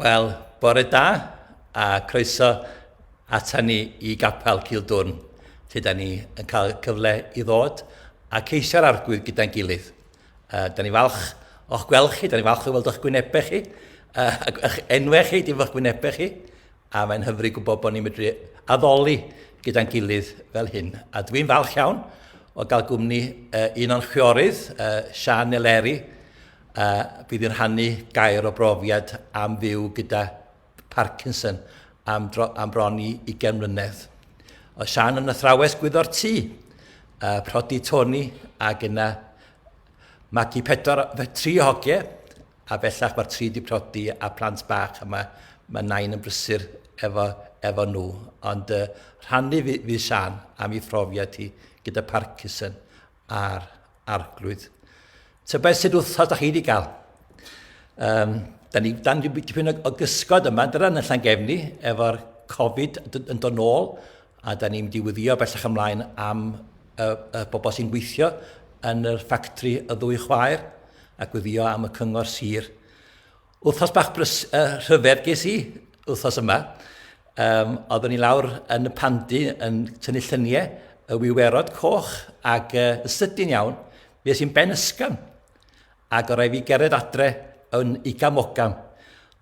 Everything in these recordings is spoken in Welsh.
Wel, bore da, a croeso ata ni i Gapel Cildwrn, lle da ni yn cael cyfle i ddod a ceisio'r arglwydd gyda'n gilydd. Uh, da ni falch o'ch gweld chi, da ni falch o'ch weld o'ch gwynebau chi, uh, ac eich enwau chi, dim o'ch gwynebau chi, a mae'n hyfryd gwybod bod ni'n medru addoli gyda'n gilydd fel hyn. A dwi'n falch iawn o gael gwmni uh, un o'n chwiorydd, uh, Sian Eleri, a bydd yn rhannu gair o brofiad am fyw gyda Parkinson am, dro, am bron i 20 mlynedd. Oedd Sian yn athrawes gwyddo'r tŷ, a prodi Tony ac yna magu pedwar, tri o hogiau, a bellach mae'r tri di prodi a plant bach, a mae, mae nain yn brysur efo, efo nhw. Ond uh, rhannu fydd Sian am ei phrofiad hi gyda Parkinson a'r arglwydd. Tybed sut wrthos da chi wedi cael? Um, da ni dan dipyn o gysgod yma, dyna yn allan gefni, efo'r Covid yn dod nôl, a da ni'n mynd i wyddio bellach ymlaen am y, y bobl sy'n gweithio yn yr ffactri y ddwy chwaer, ac wyddio am y cyngor sir. Wythnos bach brys, uh, rhyfedd ges i wythnos yma. Um, oeddwn ni lawr yn y pandi yn tynnu llyniau y wiwerod coch ac uh, yn sydyn iawn, fe sy'n ben ysgam. Ac o rai fi gerdded adre yn uga mogam.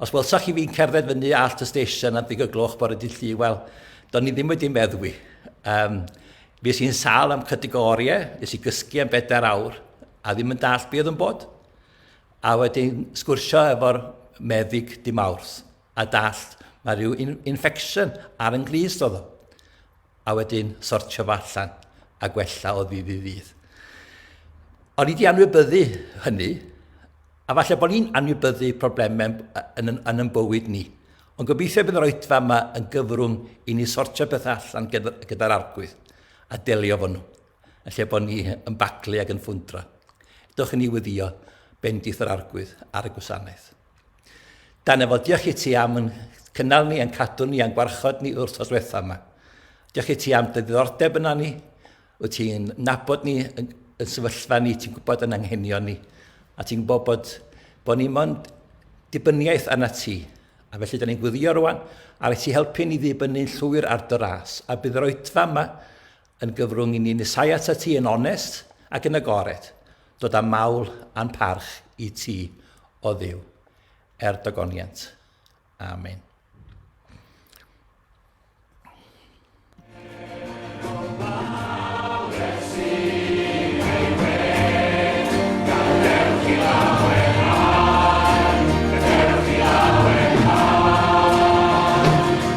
Os welsoch chi fi'n cerdded fyny allt y stesion am ddig y gloch bore dydd llu, wel, do'n ni ddim wedi meddwi. Um, fe sy'n sal am cydig o oriau, nes i gysgu am bedair awr, a ddim yn dall beth yn bod. A wedyn sgwrsio efo'r meddyg di Mawrth a dallt mae rhyw infection ar yn glist oedd o. A wedyn sortio fo allan a gwella o ddydd i ddydd. O'n i wedi anwybyddu hynny, a falle bod ni'n anwybyddu problemau yn, yn, yn yn bywyd ni. Ond gobeithio bydd yr oedfa yma yn gyfrwng i ni sortio pethau allan gyda'r gyda arglwydd a delio fo nhw. Yn lle bod ni yn baglu ac yn ffwndro, dewch i ni weddio bendith yr arglwydd ar y gwasanaeth. Dan efo, diolch i ti am yn cynnal ni, yn cadw ni, yn gwarchod ni wrth os wetha yma. Diolch i ti am dy ddiddordeb yna ni, wyt ti'n nabod ni, yn, yn sefyllfa ni, ti'n gwybod yn anghenion ni, a ti'n gwybod bod, bod ni mond dibyniaeth arna ti. A felly, da ni'n gwyddio rwan, a rhaid ti helpu ni ddibynnu'n llwyr ar dy ras, a bydd yr oedfa yma Yn gyfrwng i ni nesáu atat ti yn onest ac yn agored, dod â mawl a'n parch i ti, o Dduw, er dogoniant. Amen.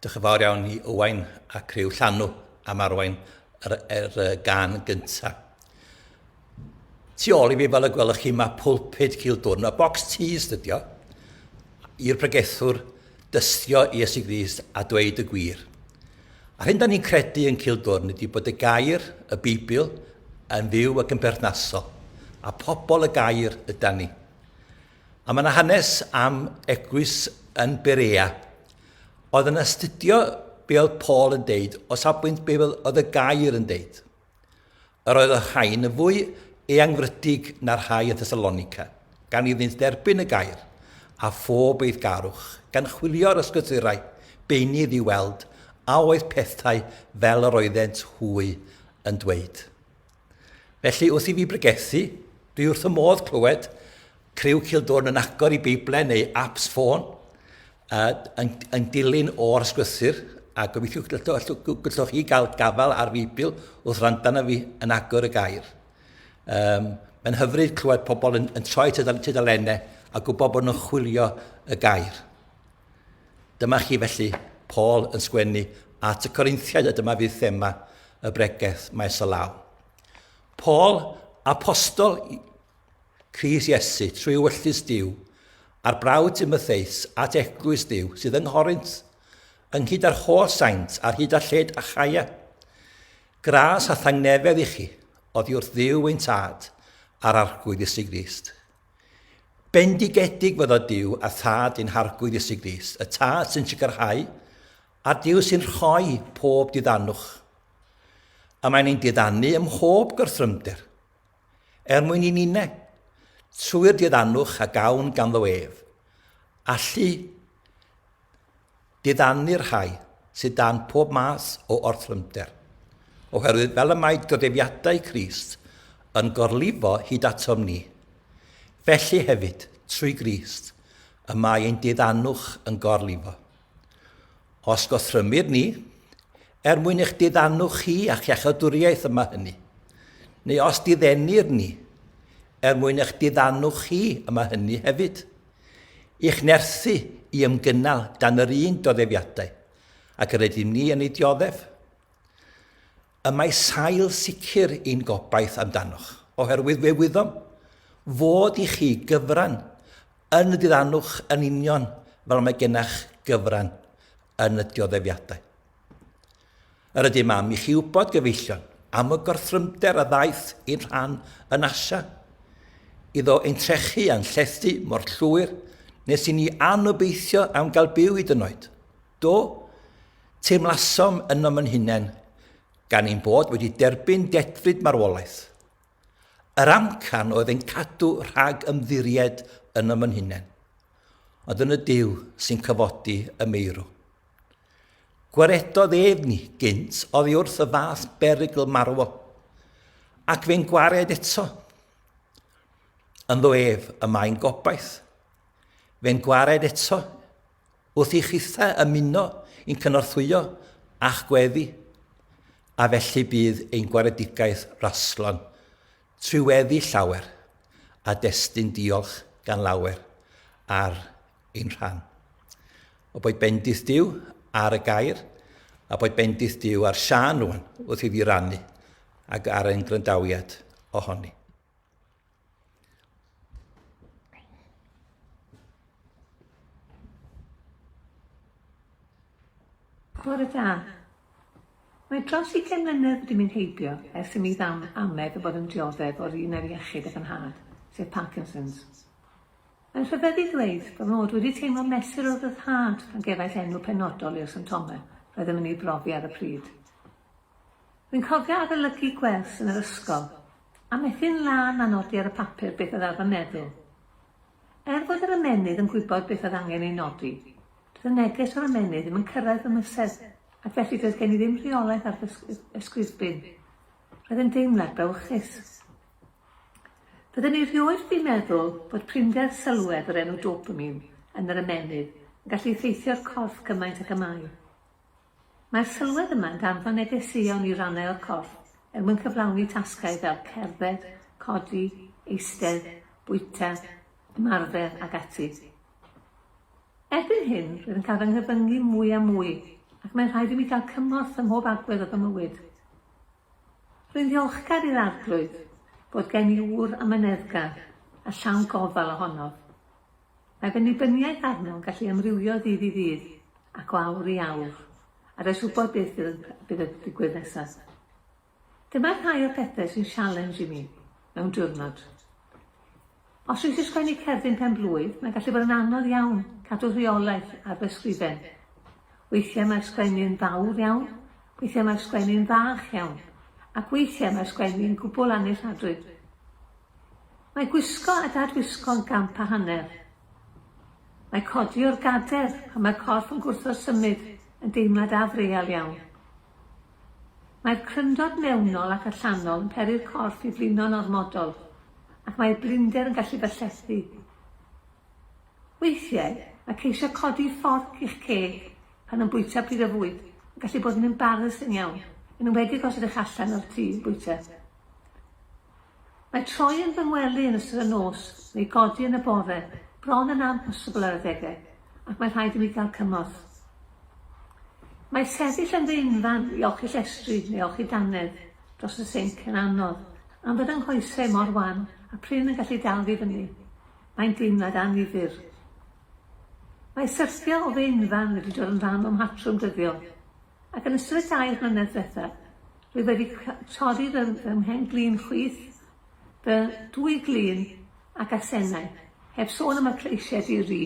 Diolch yn fawr iawn i Owain a criw Llanw am arwain yr, er, er gan gyntaf. Tu ôl i fi fel y gwelwch chi mae pulpud Cildwrn, y box tees dydio, i'r pregethwr dystio Iesu Grist a dweud y gwir. A'r hyn da ni'n credu yn Cildwrn ydy bod y gair, y Beibl, yn fyw ac yn berthnasol, a pobl y gair ydan ni. A mae yna hanes am eglwys yn Berea. Oedd yn astudio be oedd Paul yn deud o safbwynt be oedd y gair yn deud. Yr oedd y rhain yn fwy eangfrydig na'r rhai yn Thessalonica, gan iddynt dderbyn y gair, a phob eiddgarwch, gan chwilio'r ysgrythurau beunydd i weld a oedd pethau fel yr oeddent hwy yn dweud. Felly, wrth i fi bregethu, dwi wrth y modd clywed criw Cildwrn yn agor i Beiblau neu apps ffôn, uh, yn, yn dilyn o'r sglythyr, a gobeithio gallwch chi gael gafael ar Feibl wrth randa na fi yn agor y gair. Um, Mae'n hyfryd clywed pobl yn, yn troi tudalennau a gwybod bod nhw'n chwilio y gair. Dyma chi felly Paul yn sgwennu at y Corinthiaid a dyma fydd thema y bregeth maes o law. Paul, apostol Cris Iesu trwy wyllus Dyw, a'r brawd Timotheus at eglwys Dyw sydd yng Nghorint, ynghyd â'r holl saint ar hyd a lled a chaia. Gras a thangnefedd i chi, oddi wrth ddiw ein tad, a'r arglwydd Iesu Grist. Bendigedig fydda Duw a Thad i'n Harglwydd Iesu Grist, y Tad sy'n sicrhau, a Duw sy'n rhoi pob diddanwch. A mae'n ein diddannu ym mhob gorthrymder, er mwyn i ninne, trwy'r diddanwch a gawn ganddo ef, allu Diddanu'r rhai sydd dan pob math o orthrymder, oherwydd fel y mae godefiadau Crist yn gorlifo hyd atom ni, felly hefyd, trwy Grist, y mae ein diddanwch yn gorlifo. Os gothrymir ni, er mwyn eich diddanwch chi a'ch iachadwriaeth y mae hynny, neu os diddenir ni, er mwyn eich diddanwch chi y mae hynny hefyd. I'ch nerthu i ymgynnal dan yr un doddefiadau ac yr ydym ni yn ei dioddef. Y mae sail sicr i'n gobaith amdanoch, oherwydd fe wyddom fod i chi gyfran yn y diddanwch yn union fel mae gennych gyfran yn y dioddeffiadau. Yr ydym am i chi wybod gyfeillion am y gorthrymder a ddaeth i'n rhan yn Asia. Iddo ein trechu a'n llethu mor llwyr nes i ni anobeithio am gael byw i dynoed. Do, teimlasom ynom yn hunain gan ein bod wedi derbyn dedfryd marwolaeth. Yr amcan oedd ein cadw rhag ymddiried ynom yn hunain, ond yn y Duw sy'n cyfodi y meirw. Gwaredodd ef ni gynt oddi wrth y fath berygl marwol, ac fe'n gwared eto. Ynddo ef y mae'n gobaith. Fe'n gwared eto, wrth i chithau ymuno i'n cynorthwyo a'ch gweddi, a felly bydd ein gwaredigaeth raslon trwy weddi llawer, a destun diolch gan lawer ar ein rhan. O boed bendith Dyw ar y gair, a boed bendith Dyw ar Sian rwan wrth iddi rannu ag ar ein grandawiad ohoni. Bore da. Mae dros i gen mlynedd wedi mynd heibio ers i mi ddam amed o bod yn dioddef o'r un ar iechyd ac yn had, sef Parkinson's. Mae'n rhyfedd i ddweud fy mod wedi teimlo mesur o ryddhad pan gefais enw penodol i'r symptomau roeddem yn eu brofi ar y pryd. Rwy'n cofio arolygu gwers yn yr ysgol, a methu'n lân â nodi ar y papur beth oedd ar fy meddwl. Er fod yr ymennydd yn gwybod beth oedd angen ei nodi, doedd y neges o'r ymennydd ddim yn cyrraedd fy mysedd, ac felly doedd gen i ddim rheolaeth ar fy ysgwyddbyn. Roedd yn deimlad brawychus. Fydden ni rioed wedi meddwl bod prinder sylwedd o'r enw dopamin yn yr ymennydd yn gallu effeithio'r corff cymaint ag y mae. Mae'r sylwedd yma yn danfon negeseuon i rannau o'r corff er mwyn cyflawni tasgau fel cerdded, codi, eistedd, bwyta, ymarfer ac ati. Erbyn hyn, rwyf yn cael fy nghyfyngu mwy a mwy ac mae'n rhaid i mi gael cymorth ym mhob agwedd o fy mywyd. Rwy'n ddiolchgar i'r Arglwydd bod gen i ŵr amyneddgar a llawn gofal ohonof. Mae fy nibyniaeth arno'n gallu amrywio o ddydd i ddydd ac o awr i awr, a does wybod beth fydd yn digwydd nesaf. Dyma rhai o'r pethau sy'n sialens i mi mewn diwrnod. Os wyt ti'n sgwennu cerdyn pen-blwydd, mae'n gallu bod yn anodd iawn cadw rheolaeth ar fy sgrifen. Weithiau mae'r sgwennu yn fawr iawn, weithiau mae'r sgwennu yn fach iawn, ac weithiau mae'r sgwennu yn gwbl annealladwy. Mae gwisgo a dadwisgo yn gamp a hanner. Mae codi o'r gader pan mae'r corff yn gwrthod symud yn deimlad afreal iawn. Mae'r cryndod mewnol ac allanol yn peri'r corff i flino'n ormodol, ac mae'r blinder yn gallu byllethu. Weithiau, mae ceisio codi fforc i'ch ceg pan yn bwyta pryd o fwyd yn gallu bod yn embarasing iawn, yn enwedig os ydych allan o'r tŷ yn bwyta. Mae troi yn fy ngwely yn ystod y nos neu godi yn y bore bron yn amhosibl ar adegau, ac mae rhaid i mi gael cymorth. Mae sefyll yn fy unfan i olchi llestri neu olchi dannedd dros y sinc yn anodd am fod yng nghoesau mor wan a prin yn gallu dal fi fyny. Mae'n deimlad annifyr. Mae syrthio o fy unfan wedi dod yn rhan o'm mhatrwm dyddiol, ac yn ystod y dair mlynedd diwethaf, Dwi wedi torri fy mhen-glin chwith, fy dwy glin ac asennau, heb sôn am y cleisiau di-ri.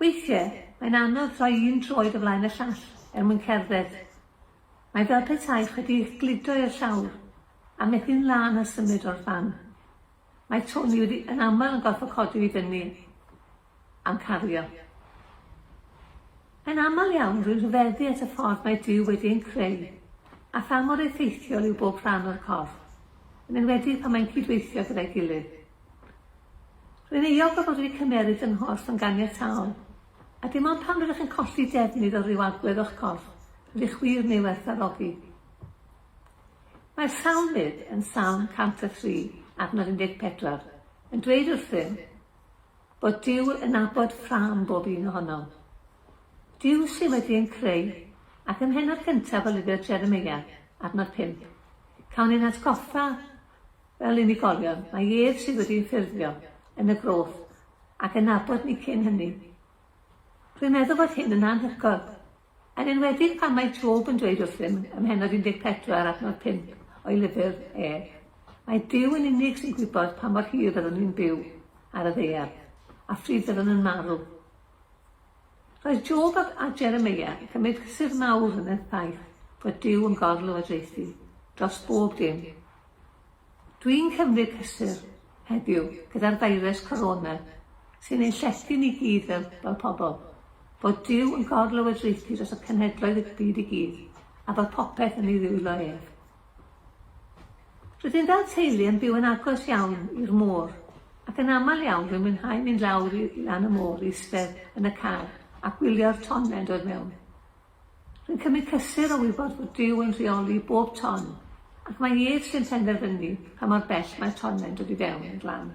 Weithiau, mae'n anodd rhoi un droed o flaen y llall er mwyn cerdded. Mae'n fel petaech wedi eich gludo i'r llawr a methu'n lân a symud o'r fan. Mae Tony wedi yn aml yn gorfod codi fi fyny am cario. Yn aml iawn rwy'n rhyfeddu at y ffordd mae Duw wedi ein creu a pha mor effeithiol yw bob rhan o'r corff, yn enwedig pan mae'n cydweithio gyda'i gilydd. Rwy'n euog o fod wedi cymeryd fy nghorff yn ganiataol, a dim ond pan rydych yn colli defnydd o ryw agwedd o'ch corff rydych wir yn ei werthfawrogi. Mae'r Salmydd yn Salm 103, adnod 14, yn dweud wrthym bod Duw yn nabod ffrâm bob un ohonom. Duw sydd wedi yn creu, ac ym mhennod cyntaf o lyfr Jeremia, adnod 5, cawn ein atgoffa fel unigolion mae ef sydd wedi'n ffurfio yn y groth ac yn nabod ni cyn hynny. Rwy'n meddwl fod hyn yn anhygoel, Yn enwedig pan mae Job yn dweud wrthym ym mhennod 14 adnod 5 o'i lyfr e, Mae Duw yn unig sy'n gwybod pa mor hir fyddwn ni'n byw ar y ddaear, a phryd fyddwn yn marw. Roedd Job a, a Jeremia yn cymryd cysur mawr yn y ffaith fod Duw yn gorlywodraethu dros bob dim. Dwi'n cymryd rhestr heddiw gyda'r feirws corona sy'n ein llety ni gyd fel, fel pobl. Bod Duw yn gor-lywodraethu dros y cenhedloedd y byd i gyd, a bod popeth yn ei ddwylo ef. Rydyn fel teulu yn byw yn agos iawn i'r môr, ac yn aml iawn rwy'n mwynhau mynd lawr i, i lan y môr, eistedd yn y car, a gwylio'r tonnau yn dod mewn. Dwi'n cymryd cysur o wybod fod Duw yn rheoli bob ton, ac mae ef sy'n penderfynu pa mor bell mae'r tonnau'n dod i fewn i'r lan.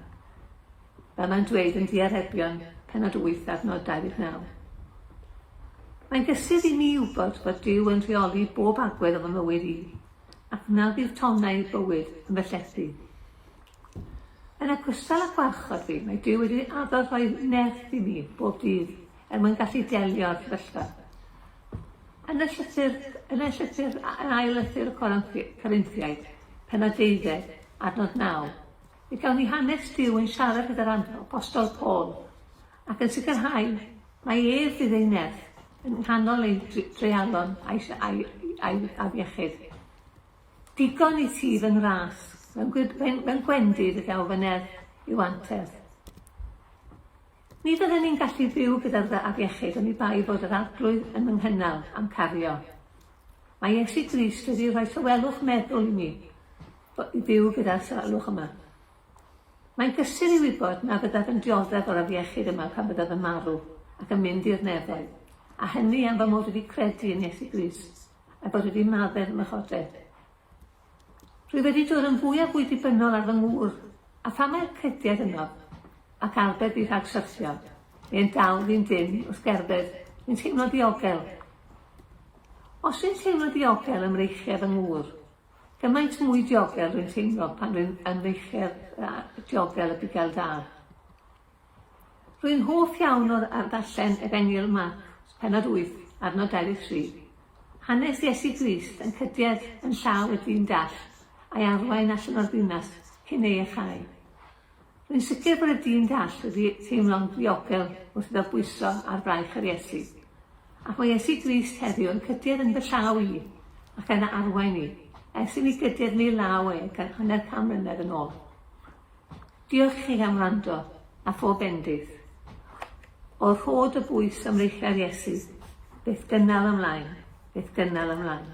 Fel mae'n dweud yn Diarebion, penod 8, adnod 29. Mae'n gysur i mi wybod bod Duw yn rheoli bob agwedd o fy mywyd i, ac na fydd tonnau i'r bywyd yn fy llethu. Yn ogystal â gwarchod fi, mae Duw wedi addo rhoi nerth i mi bob dydd, er mwyn gallu delio â'r sefyllfa. Yn y llythyr, yn y llythyr, yn ail lythyr y Corinthiaid, penod deuddeg, adnod naw, fe gawn ni hanes Dyw yn siarad gyda'r apostol Paul, ac yn sicrhau mae ef fydd ei nerth yn nghanol ei dreialon a'i, a'i, a'i afiechyd. Digon i ti fy ngras, mewn, mewn, mewn gwendid y daw fy nerth i'w anterth. Ni fydden ni'n gallu byw gyda'r dda afiechyd oni bai fod yr Arglwydd yn fy nghynnal a'm cario. Mae Iesu Grist wedi rhoi tawelwch meddwl i mi i fyw gyda'r tawelwch yma. Mae'n gysur i wybod na fyddaf yn dioddef o'r afiechyd yma pan fyddaf yn marw ac yn mynd i'r nefoedd, a hynny am fy mod wedi credu yn Iesu Grist a'i fod wedi maddef ym mrychodau. Dwi wedi dod yn fwy a fwy dibynnol ar fy ngŵr, a phan mae'r crediad yno, ac arbed fi rhag syrthio, neu yn dal fi'n dynn wrth gerdded, dwi'n teimlo'n ddiogel. Os dwi'n teimlo diogel ym mreichiau fy ngŵr, gymaint mwy diogel rwy'n teimlo pan rwy'n ym mreichiau diogel y bugail da. Rwy'n hoff iawn o ar ddarllen Efengyl Marc, pennod 8, ar nod 23. Hanes Iesu Grist yn cydiedd yn llaw y dyn dall, a'i arwain allan o'r ddinas cyn ei echau. Rwy'n sicr bod y dyn dall wedi teimlo'n ddiogel wrth iddo bwyso ar fraich ar Iesu. Ac mae Iesu Grist heddiw yn cydiedd yn fy llaw i, ac yn arwain i, ers i mi gydiedd yn ei law e gan hanner can mlynedd yn ôl. Diolch i chi am wrando, a phob bendith. O rhod y bwys a mreichiau'r Iesu, beth gynnal ymlaen, beth gynnal ymlaen.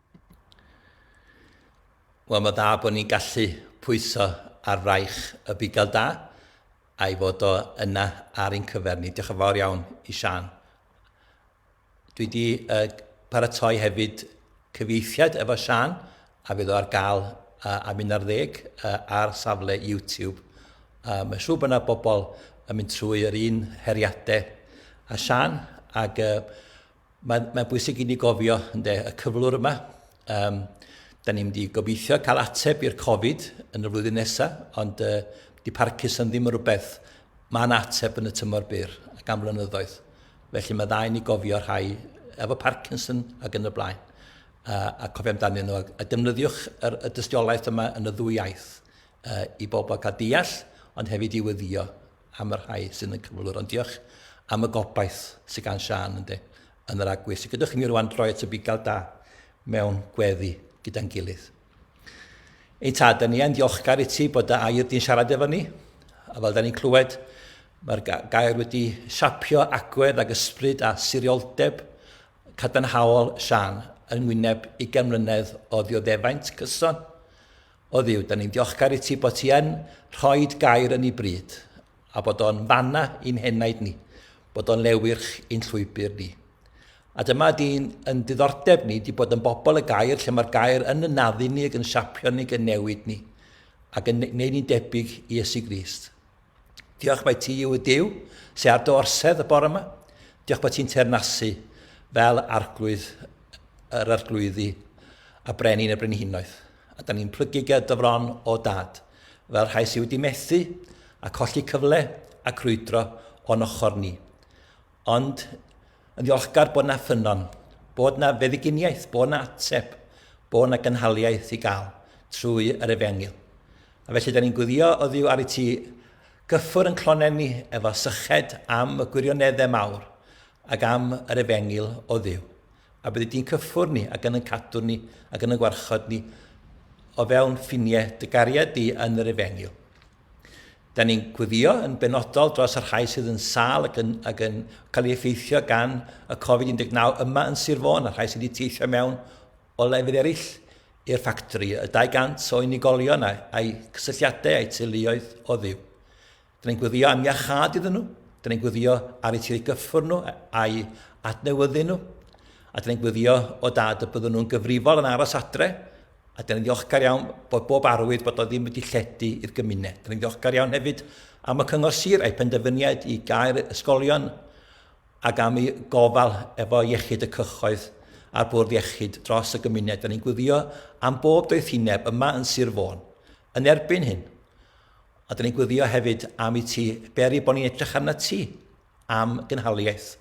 Wel, mae dda bod ni'n gallu pwyso ar fraich y bugail da, a'i fod o yna ar ein cyfer ni. Diolch yn fawr iawn i Siân. Dwi wedi uh, paratoi hefyd cyfieithiad efo Siân, a fydd o ar gael uh, am un ar ddeg uh, ar safle YouTube. Uh, mae siŵr bod yna bobl yn mynd trwy yr un heriadau a Siân, ac uh, Mae'n mae bwysig i ni gofio ynde, y cyflwr yma. Um, da ni'n mynd i gobeithio cael ateb i'r Covid yn y flwyddyn nesaf, ond uh, di Parkinson ddim yn rhywbeth mae'n ateb yn y tymor byr ac am flynyddoedd. Felly mae dda i ni gofio rhai efo Parkinson ac yn y blaen. Uh, a cofio amdanyn nhw, a defnyddiwch yr, y dystiolaeth yma yn y ddwy iaith uh, i bobl cael deall, ond hefyd i weddio am y rhai sydd yn y cyflwr, ond diolch am y gobaith sydd gan Sian ynddi yn yr agwedd sydd gyda chi ni rwan droi at y bugail da mewn gweddi gyda'n gilydd. Ein tad, da ni yn diolchgar i ti bod dy air di'n siarad efo ni, a fel da ni'n clywed, mae'r gair wedi siapio agwedd ag ysbryd a sirioldeb cadarnhaol Sian yng ngwyneb i mlynedd o ddioddefaint cyson O Dduw, da ni'n diolchgar i ti bod ti yn rhoed gair yn ei bryd, a bod o'n fanna i'n henaid ni, bod o'n lewyrch i'n llwybr ni. A dyma di'n yn diddordeb ni, di bod yn bobl y gair, lle mae'r gair yn ynaddu ni, ac yn siapio ni, ac yn newid ni, ac yn gwneud ni'n debyg i Iesu Grist. Diolch mai ti yw y Duw sy ar dy orsedd y bore yma. Diolch bod ti'n teyrnasu fel arglwydd yr arglwyddi a brenin y brenhinoedd. A da ni'n plygu ger dy fron o dad, fel rhai sydd wedi methu a colli cyfle a crwydro o'n ochr ni. Ond, yn ddiolchgar bod 'na ffynnon, bod 'na feddyginiaeth, bod 'na ateb, bod 'na gynhaliaeth i gael trwy yr efengyl. A felly, da ni'n gwyddio o ddiw ar y ti gyffwr yn clonen ni efo syched am y gwirioneddau mawr ac am yr efengyl o ddiw. A byddi di'n cyffwr ni ac yn yn cadw ni ac yn yn gwarchod ni o fewn ffiniau dy gariad di yn yr efengyl. Da ni'n gweddïo yn benodol dros y rhai sydd yn sâl ac yn, ac yn cael ei effeithio gan y Covid-19 yma yn Sir Fôn a rhai sydd wedi teithio mewn o lefydd eraill i'r ffactori, y 200 o unigolion a'u cysylltiadau a'u teuluoedd o ddiw. Da ni'n gweddio am iachâd iddyn nhw, da ni'n gweddio ar eu tirau gyffwr nhw a'u adnewyddu nhw, a da ni'n gweddio o dad y byddwn nhw'n gyfrifol yn aros adre, A dan ni'n ddiolchgar iawn bod bob arwydd bod o ddim wedi lledu i'r gymuned. Dan ni'n ddiolchgar iawn hefyd am y Cyngor Sir a'i penderfyniad i gael ysgolion ac am ei gofal efo iechyd y cychoedd a'r bwrdd iechyd dros y gymuned. Da ni'n gwylio am bob doethineb yma yn Sir Fôn yn erbyn hyn. A da ni'n gwylio hefyd am i ti beri bod ni'n edrych arna ti am gynhaliaeth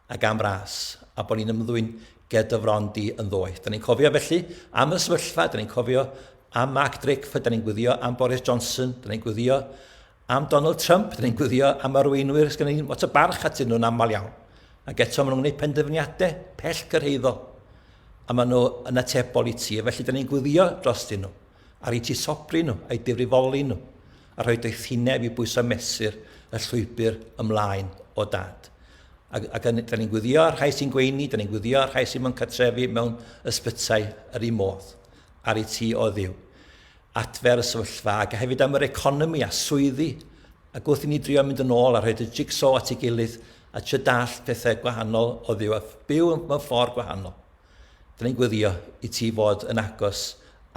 ac am ras, a bod ni'n ymddwyn ger dy fron di yn ddoeth. Da ni'n cofio felly am y sefyllfa, da ni'n cofio am Mark Drakeford, da ni'n gwyddio am Boris Johnson, da ni'n gwyddio am Donald Trump, da ni'n gwyddio am arweinwyr sy'n ni'n lot o barch atyn nhw'n aml iawn. Ac eto maen nhw'n gwneud penderfyniadau pell gyrhaeddol a maen nhw yn atebol i ti. Felly, da ni'n gwyddio dros dyn nhw, ar i ti sobri nhw, a'i difrifoli nhw. a rhoi doethineb i bwyso mesur y llwybr ymlaen o dad. Ac, ac da ni'n gwyddio ar rhai sy'n gweini, da ni'n gwyddio ar rhai sy'n mewn catrefi mewn ysbytai yr un modd, ar ei ti o ddiw. Adfer y sefyllfa, ac hefyd am yr economi a swyddi, ac wrth i ni drio mynd yn ôl a rhaid y jigsaw at ei gilydd a trio dallt pethau gwahanol o ddiw a byw mewn ffordd gwahanol. Dan ni'n gweddio i ti fod yn agos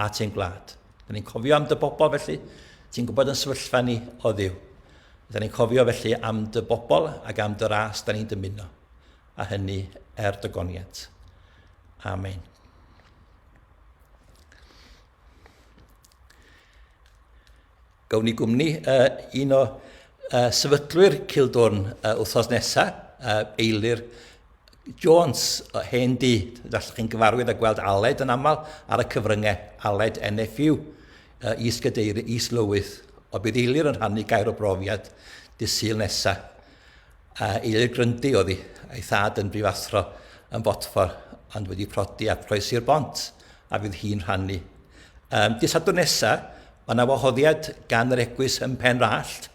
at ein gwlad. Dan ni'n cofio am dy bobl felly, ti'n gwybod yn sefyllfa ni o ddiw. Dan ni'n cofio felly am dy bobl ac am dy ras dan ni'n dymuno, a hynny er dy goniant. Amen. Gawn ni gwmni uh, un o uh, sefydlwyr Cildwrn uh, wythnos nesaf, uh, Eilir Jones, o hen di, allwch chi'n gyfarwydd a gweld Aled yn aml ar y cyfryngau, Aled NFU, uh, Is Gadeir, Is Lywydd, o bydd Eilir yn rhannu gair o brofiad dydd Sul nesaf. Eilir Grundy oddi, a'i thad yn brifathro yn fodfor ond wedi prodi a croesi'r bont a fydd hi'n rhannu. Um, Dydd Sadwrn nesa, mae yna wahoddiad gan yr egwys ym Mhen Rallt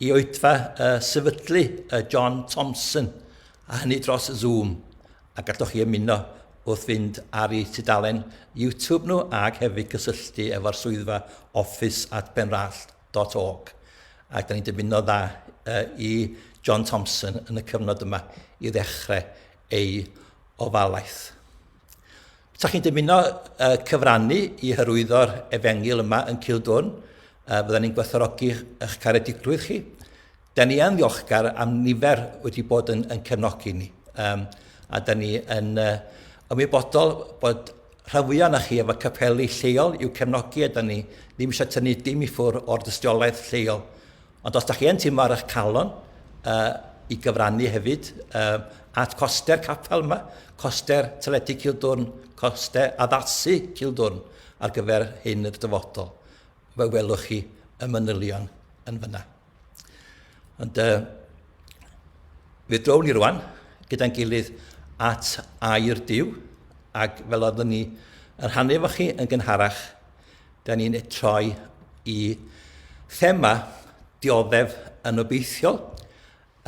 i oedfa uh, sefydlu uh, John Thompson, a hynny dros Zoom, a galloch chi ymuno wrth fynd ar ei tudalen YouTube nhw ac hefyd cysylltu efo'r swyddfa Office at Benrallt. www.ecofrestr.org ac da ni'n dymuno dda i John Thompson yn y cyfnod yma i ddechrau ei ofalaeth. Sa chi'n dymuno uh, cyfrannu i hyrwyddo'r efengil yma yn Cildwn, uh, fydda ni'n gwerthorogi eich caredigrwydd chi. Da ni yn ddiolchgar am nifer wedi bod yn, yn cefnogi ni. Um, a da ni yn uh, ymwybodol bod rhan fwyaf na chi efo capeli lleol i'w cefnogi a da ni ddim eisiau tynnu dim i ffwr o'r dystiolaeth lleol. Ond os da chi yn teimlo ar eich calon uh, i gyfrannu hefyd uh, at coster capel yma, coster teledu Cildwrn, coster addasu Cildwrn ar gyfer hyn y dyfodol, fe welwch chi y manylion yn fyna. Ond uh, fe drown ni rwan gyda'n gilydd at air diw, ac fel oeddwn ni yn rhannu efo chi yn gynharach, da ni'n troi i thema dioddef yn obeithiol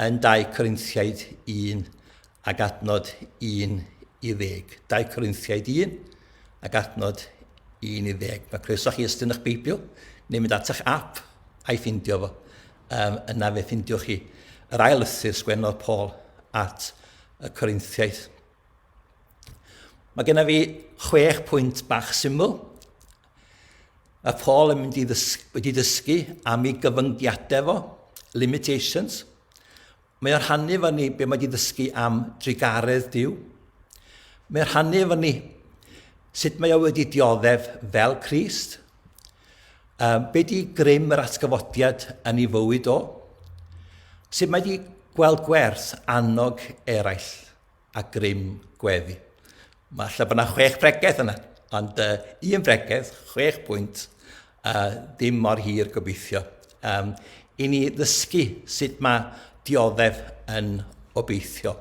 yn 2 Corinthiaid 1 ag adnod 1 i ddeg. 2 Corinthiaid 1 ag adnod 1 i ddeg. Mae croeso chi ystyn eich Beibl neu mynd at eich app a'i ffindio fo. Um, yna fe ffindiwch chi yr ail lythyr sgwennodd Paul at y Corinthiaid. Mae genna fi chwech pwynt bach syml. Mae Paul yn mynd i ddysgu, wedi dysgu am ei gyfyngiadau fo, limitations, Mae o'n rhannu efo ni be mae wedi ddysgu am drugaredd Duw. Mae o'n rhannu efo ni sut mae o wedi dioddef fel Crist. Um, be di grym yr atgyfodiad yn ei fywyd o? Sut mae wedi gweld gwerth annog eraill? a grym gweddi. Mae lle bod yna chwech bregeth yna, ond uh, un bregeth, chwech pwynt, uh, ddim mor hir gobeithio. Um, I ni ddysgu sut mae dioddef yn obeithio.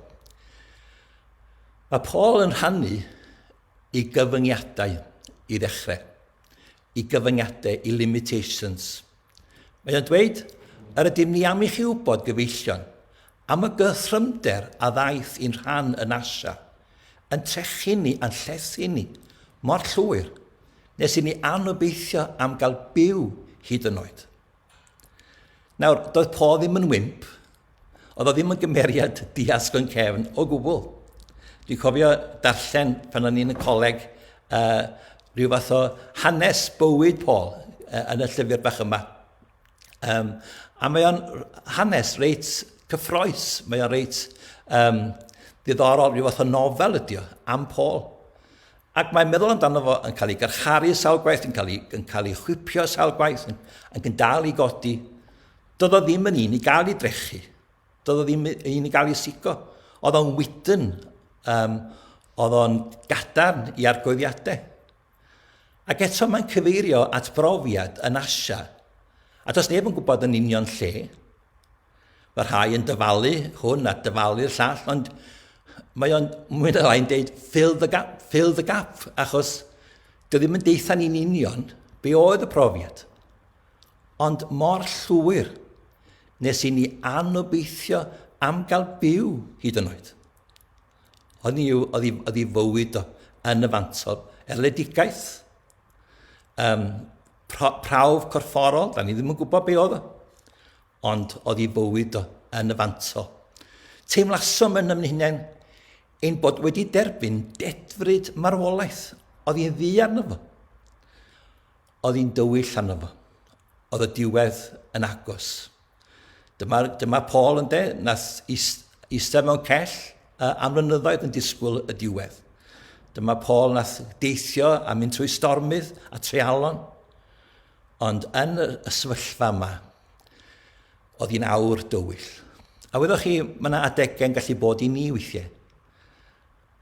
Mae Paul yn rhannu i gyfyngiadau i ddechrau, i gyfyngiadau, i limitations – Mae o'n dweud, Yr ydym ni am i chi wybod, gyfeillion, am y gythrymder a ddaeth i'n rhan yn Asia, yn trechu ni a'n llethu ni mor llwyr nes i ni anobeithio am gael byw hyd yn oed. Nawr, doedd Paul ddim yn wimp, Oedd o ddim yn gymeriad diasg o'n cefn o gwbl. Dwi'n cofio darllen pan o'n i'n y coleg uh, rhyw fath o hanes bywyd Paul uh, yn y llyfr bach yma. Um, a mae o'n hanes reit cyffroes, mae o'n reit um, diddorol, rhyw fath o nofel ydy o, am Paul. Ac mae'n meddwl amdano fo yn cael ei garcharu sawl gwaith, yn cael ei, yn cael ei chwipio sawl gwaith, yn, yn dal i godi. Doedd o ddim yn un i gael ei drechu. Doedd o ddim yn i gael ei sigo. Oedd o'n wydyn. Um, oedd o'n gadarn i argoeddiadau. Ac eto mae'n cyfeirio at brofiad yn Asia. A does neb yn gwybod yn union lle. Mae rhai yn dyfalu hwn a dyfalu'r llall, ond mae o'n mwy na lai'n deud fill the gap, fill the gap, achos dwi ddim yn deitha ni'n union be oedd y profiad. Ond mor llwyr nes i ni anobeithio am gael byw hyd yn oed. Oedd ni yw, oedd i, oedd i fywyd o yn y fantol, erledigaeth, um, pra, prawf corfforol, da ni ddim yn gwybod be oedd o, ond oedd i fywyd o yn y fantol. Teimlasom yn ymwneud ein bod wedi derbyn dedfryd marwolaeth oedd i'n ddi arno fo. Oedd hi'n dywyll arno fo. Oedd y diwedd yn agos. Dyma, dyma Paul ynde, nath eistedd mewn cell am flynyddoedd yn disgwyl y diwedd. Dyma Paul nath deithio a mynd trwy stormydd a treialon. Ond yn y sefyllfa yma, oedd hi'n awr dywyll. A wyddoch chi, mae yna adegau'n gallu bod i ni weithiau.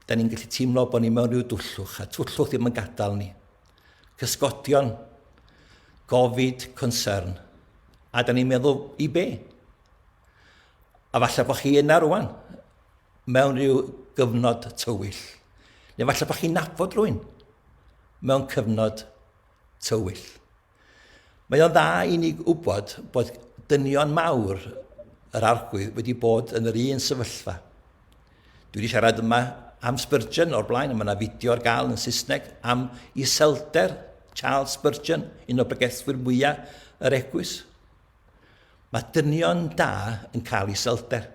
Da ni'n gallu teimlo bod ni mewn rhyw dwllwch, a twllwch ddim yn gadael ni. Cysgodion, gofid, concern. A da ni'n meddwl, i be? A falle bod chi yna rwan, mewn rhyw gyfnod tywyll. Neu falle bod chi'n nabod rwy'n mewn cyfnod tywyll. Mae o'n dda i ni wybod bod dynion mawr yr arglwydd wedi bod yn yr un sefyllfa. Dwi wedi siarad yma am Spurgeon o'r blaen, mae yna fideo ar gael yn Saesneg am iselder Charles Spurgeon, un o bregethwyr mwyaf yr egwys. Mae dynion da yn cael iselder.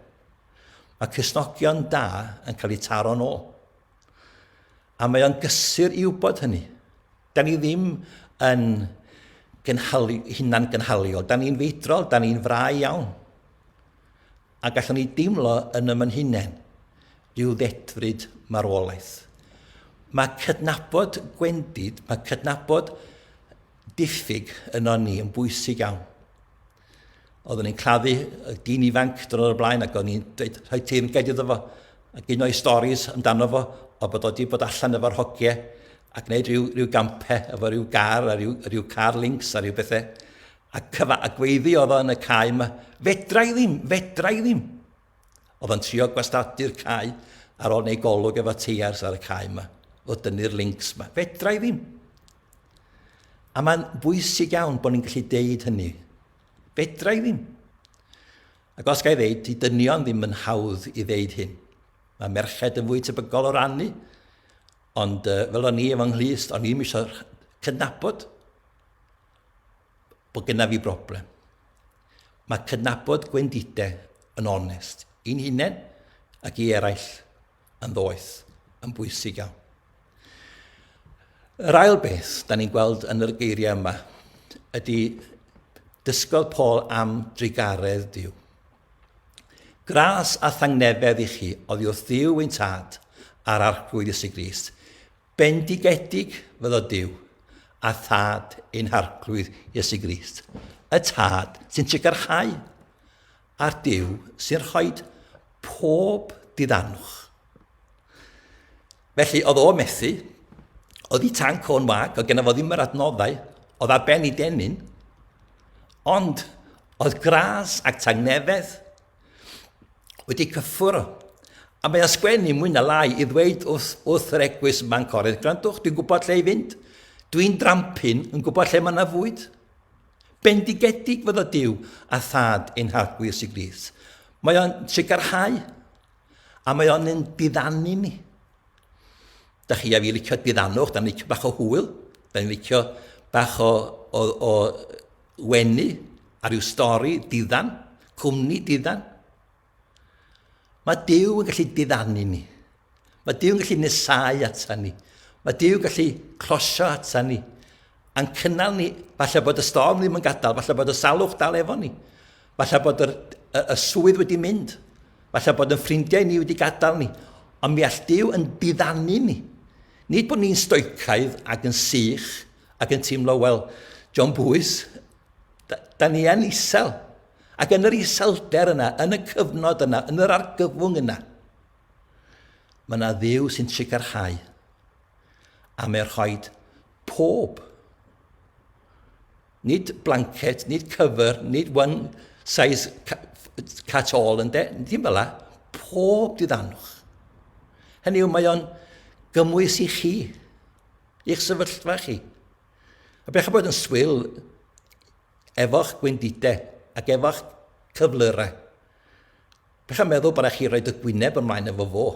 Mae cysnogion da yn cael eu taro'n ôl. A mae o'n gysur i wybod hynny. Da ni ddim yn gynhalu, hunan gynhaliol. Da ni'n feidrol, da ni'n frai iawn. A gallwn ni deimlo yn ymyn hunain rhyw ddedfryd marwolaeth. Mae cydnabod gwendid, mae cydnabod diffyg yno ni yn bwysig iawn. Oeddwn i'n claddu y dyn ifanc dyn o'r blaen ac o'n i'n dweud rhoi ti'n gedi iddo fo ac un o'i storys amdano fo o bod oeddi bod allan efo'r hogiau ac wneud rhyw, rhyw gampau efo rhyw gar a rhyw, rhyw car links a rhyw bethau. A, cyfa, a gweiddi oedd yn y cae yma, fedra i ddim, fedra i ddim. Oedd yn trio gwastadu'r cae ar ôl neu golwg efo teiars ar y cae yma, o dynnu'r links yma. Fedra i ddim. A mae'n bwysig iawn bod ni'n gallu deud hynny. Fedra i ddim. Ac os gael ddeud, i dynion ddim yn hawdd i ddeud hyn. Mae merched yn fwy tebygol o rannu, ond uh, fel o'n i efo nghlust, o'n i'n eisiau cydnabod bod gynnaf fi broblem. Mae cydnabod gwendidau yn onest i'n hunain ac i eraill. yn ddoeth, yn bwysig iawn. Yr ail beth, da ni'n gweld yn yr geiriau yma, ydy dysgodd Paul am drugaredd Dyw. Gras a thangnefedd i chi oddi wrth Ddyw ein tad a'r arglwydd Iesu Grist. Bendigedig fyddo Dyw a thad ein harglwydd Iesu Grist, y tad sy'n trigarchau Ar Duw sy'n rhoi pob diddanwch. Felly, oedd o methu, oedd i tanc o'n wag, oedd gen fo ddim yr adnoddau, oedd ar ben i denyn, ond oedd gras ac tangnefedd wedi cyffwrdd. A mae o'n sgwennu mwy na lai i ddweud wrth, wrth yr egwys yma'n corydd, gwrandwch, dwi'n gwybod lle i fynd, dwi'n drampin yn gwybod lle mae yna fwyd. Bendigedig fyddo Duw a Thad ein Harglwydd Iesu Grist. Mae o'n sigarhau a mae o'n yn diddanu ni. Da chi a fi licio diddannwch, da ni'n licio bach o hwyl, da ni'n licio bach o, o, o wenu ar ryw stori diddan, cwmni diddan. Mae Dyw yn gallu diddanu ni. Mae Dyw yn gallu nesau ata ni. Mae Dyw yn gallu closio ata ni. A'n cynnal ni, falle bod y storm ddim yn gadael, falle bod y salwch dal efo ni. Falle bod y, y, y swydd wedi mynd. Falle bod yn ffrindiau ni wedi gadael ni. Ond mi all Dyw yn diddanu ni. Nid bod ni'n stoicaidd ac yn sych ac yn teimlo, wel, John Bwys, da, da ni yn isel. Ac yn yr iselder yna, yn y cyfnod yna, yn yr argyfwng yna, mae yna ddiw sy'n trigarhau. A mae'n rhoi pob. Nid blanket, nid cyfer, nid one size cat all yn de. Ddim fel la. Pob diddanwch. Hynny yw, mae o'n gymwys i chi, i'ch sefyllfa chi. A bech bod yn swil Efo'ch gwendidau ac efo'ch cyflyrau. Dach chi'n meddwl bod rhaid chi roed y gwyneb ymlaen efo fo.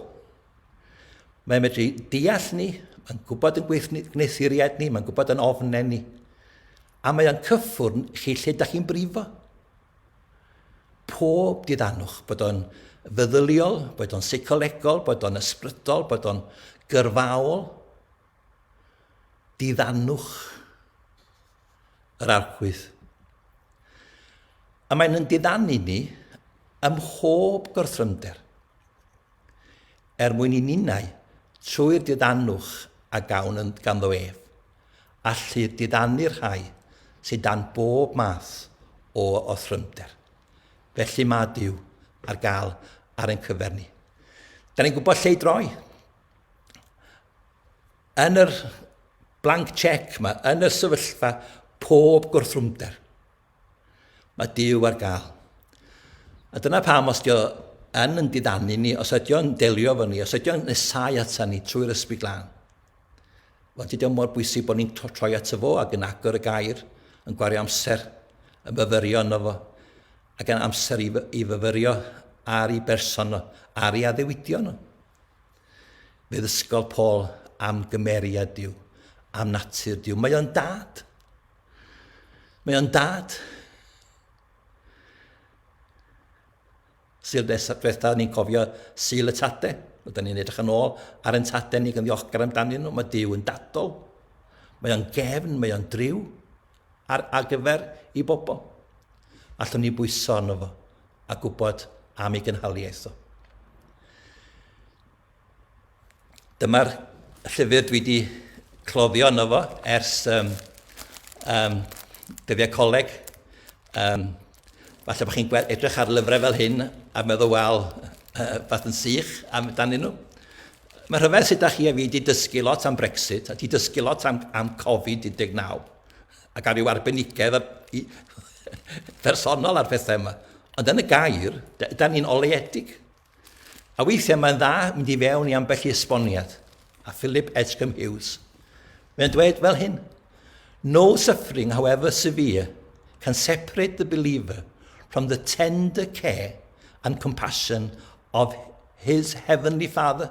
Mae'n medru deall ni, mae'n gwybod yn gwneuthuriaid ni, mae'n gwybod yn ofnau ni. A mae o'n cyffwrn chi lle dach chi'n brifo. Pob diddanwch, bod o'n feddyliol, bod o'n seicolegol, bod o'n ysbrydol, bod o'n gyrfaol. Diddanwch. yr archwydd. A mae'n yn diddanu ni ym mhob gorthrymder, er mwyn i ninnau, trwy'r diddanwch a gawn yn ganddo ef, allu diddanu'r rhai sydd dan bob math o othrymder. Felly mae Dyw ar gael ar ein cyfer ni. Da ni'n gwybod lle i droi. yn yr blank check yma, yn y sefyllfa pob gwrthrwmder, mae Dyw ar gael. A dyna pam os dio yn yn didanu ni, os ydy o'n delio fo ni, os ydy o'n nesau ata ni trwy'r ysbryd glân, Wel, dydy o mor bwysig bod ni'n troi at y fo ac yn agor y gair, yn gwario amser, yn fyfyrio yno fo, ac yn amser i, i fyfyrio ar ei berson nhw, ar ei addewidion nhw. Bydd ysgol Paul am gymeriad Dyw, am natur Dyw. Mae o'n dad. Mae o'n dad. Syl diwetha, ni'n cofio syl y tade. Oedden ni'n edrych yn ôl ar yn tade ni gan ddiolchgar amdanyn nhw. Mae Dyw yn dadol. Mae o'n gefn, mae o'n driw ar, ar gyfer i bobl. Allwn ni bwyso arno fo. a gwybod am ei gynhaliaeth o. Dyma'r llyfr dwi wedi cloddio yno fo ers um, um, dyddiau coleg. Um, falle bod chi'n edrych ar lyfrau fel hyn a meddwl, wel, uh, fath yn sych amdanyn nhw. Mae rhyfedd sut da chi a fi wedi dysgu lot am Brexit a wedi dysgu lot am, am Covid-19. ac ar ryw arbenigedd personol ar phethau yma. Ond yn y gair, da ni'n oleedig. A weithiau mae'n dda mynd i fewn i ambell i esboniad. A Philip Edgecombe Hughes, mae'n dweud fel hyn, No suffering, however severe, can separate the believer from the tender care and compassion of his heavenly Father.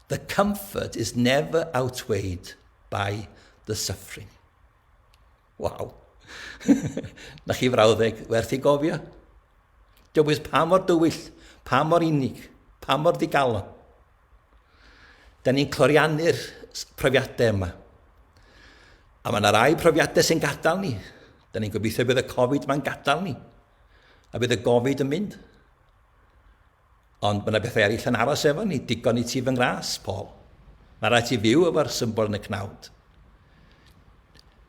The comfort is never outweighed by the suffering. Waw. Na chi frawddeg werth i gofio. Dywys pa mor dywyll, pa mor unig, pa mor ddigalon. Da ni'n cloriannu'r profiadau yma. A mae yna rai profiadau sy'n gadael ni. Da ni'n gobeithio bydd y Covid mae'n gadael ni. A bydd y Covid yn mynd. Ond mae 'na bethau eraill yn aros efo ni, digon i ti fy ngras, Paul. Mae rhaid ti fyw efo'r symbol yn y cnawd.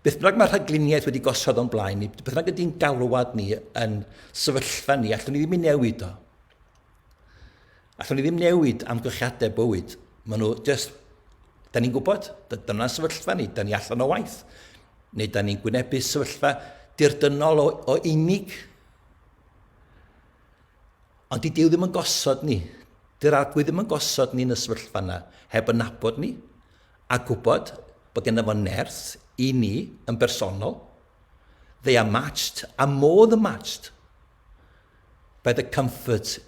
Beth bynnag mae rhagluniaeth wedi gosod o'n blaen ni, beth bynnag ydy'n galwad ni yn sefyllfa ni, allwn ni ddim ei newid o. Allwn ni ddim newid amgylchiadau bywyd. Mae nhw just... Da ni'n gwybod, dyna sefyllfa ni, da ni allan o waith. Neu da ni'n gwynebu sefyllfa dirdynol o, o unig Ond dydy o ddim yn gosod ni, dy'r Arglwydd ddim yn gosod ni yn y sefyllfa yna heb yn nabod ni a gwybod bod genna fo nerth i ni yn bersonol. They are matched a more than matched by the comfort.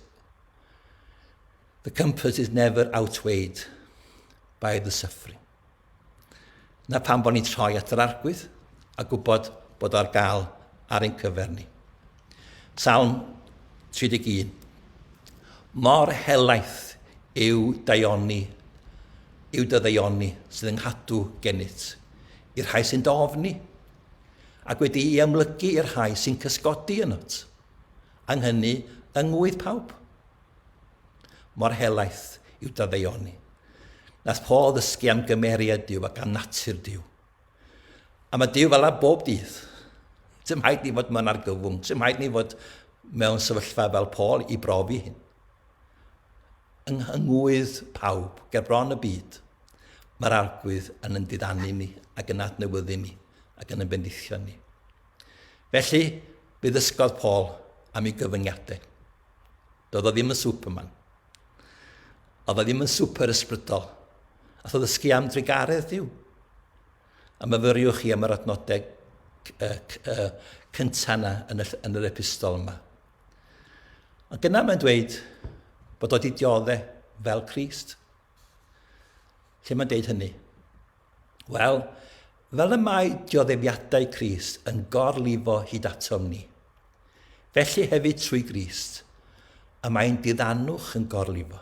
The comfort is never outweighed by the suffering. Na pam bod ni'n troi at yr Arglwydd a gwybod bod o ar gael ar ein cyfer ni. Salm 31 Mor helaeth yw daioni, yw dy ddaioni sydd yn nghadw gennyt, i'r rhai sy'n dy ofni, ac wedi'i amlygu i'r rhai sy'n cysgodi ynot. Ang hynny yng ngwydd pawb. Mor helaeth yw dadeuoni nad Paul ddysgu am gymeriad Duw ac am natur Duw. A mae Duw fel a bob dydd. Dim haid ni fod mewn argyfwng, dim haid ni fod mewn sefyllfa fel Paul i brofi hyn. Yng nghangwydd pawb, ger bron y byd, mae'r arglwydd yn yn didanu ni ac yn adnewyddu ni ac yn yn bendithio ni. Felly, fe ddysgodd Paul am ei gyfyngiadau. Doedd o ddim yn Superman. Oedd o ddim yn super ysbrydol. A tho ddysgu am drugaredd diw. A myfyriwch chi am yr adnodau cyntaf yna yn, y, yn yr epistol yma. Ond dyna mae'n dweud bod o wedi diodde fel Christ. Lle mae'n deud hynny? Wel, fel y mae dioddefiadau Crist yn gorlifo hyd atom ni, felly hefyd trwy Grist, y mae ein diddanwch yn gorlifo.